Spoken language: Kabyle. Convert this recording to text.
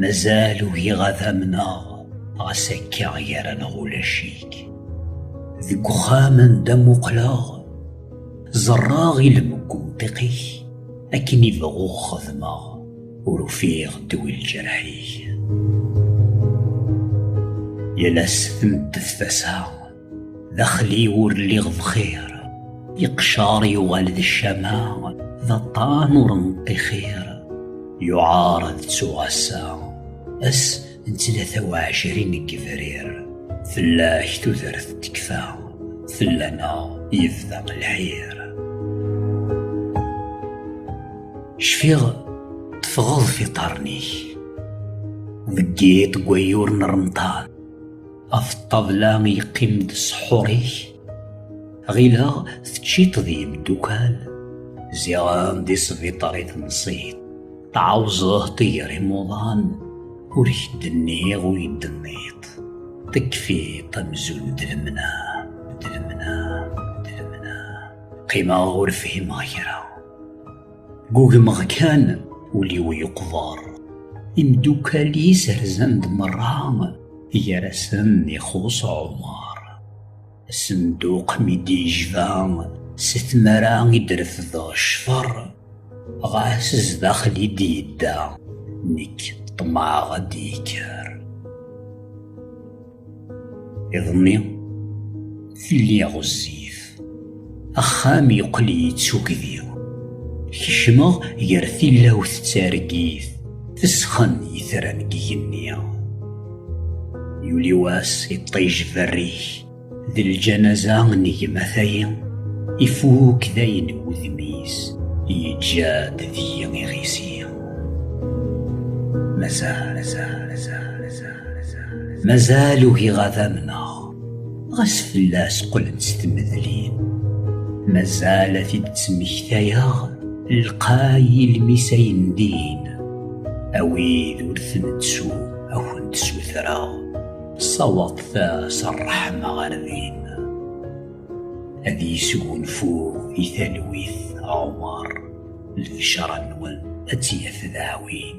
Mazal ugiɣ ad amneɣ ɣas akka gar-aneɣ ulac-ik. Deg uxxam anda muqleɣ, ẓerraɣ i lmeggunṭiq-ik akken i bɣuɣ xedmeɣ, ur ufiɣ dwi lǧerḥ-ik. Yal ass tmeddef tasa Daxel-iw ur lliɣ bxir Iqcar yuɣal d ccama D aṭṭan ur nṭixir Yuɛar ad ttuɣ ass-a Ass n tlata u ɛecrin n yebrir Fell-ak tudert tekfa Fell-aneɣ yebda lḥir Cfiɣ teffɣeḍ f iṭarren-ik Deg yiṭ n wayyur n remḍan Af ṭṭabla yeqqim-d ṣḥur-ik Ɣileɣ teččiḍ d yemdukal Ziɣen di sbiṭar i tenṣiḍ Tɛawzeḍ tigger imuḍan Ur k-d-nniɣ ur yi-d-tenniḍ Tekfiḍ amzun d lemna D lemna, d lemna Qqimeɣ ur fhimeɣ kra Gugmeɣ kan ul-iw yeqber Imdukkal-is rzan-d merra Gar-asen ixuṣ Ɛumar Asenduq mi d-yejba Si tmara i d-refdeɣ ccfer Ɣas zdaxel i d-yedda Nekk ṭṭmeɛ ad d-yekker Iḍelli, tilli ɣezzif. Axxam yeqqel yettugdi. Kecmeɣ gar tilawt d targit, tesxen yitran n yigenni. Yuli wass iṭij berrik, d lǧanaza n gma tayi, ifuk dayen wudem-is, yeǧǧa-d deg-i iɣisi. Mazal, mazal, mazal. mazal ugiɣ ad amneɣ ɣas fell-as qqlent s tmedlin mazal ad t-id-ttmektayeɣ lqay ilmis ay ndin a wid ur ten-ttu ad kent-ssutreɣ sawaḍet-as ṛṛeḥma ɣer din ad yesgunfu i talwit ɛumaṛ lbecṛa-nwen ad tt-yaf dawin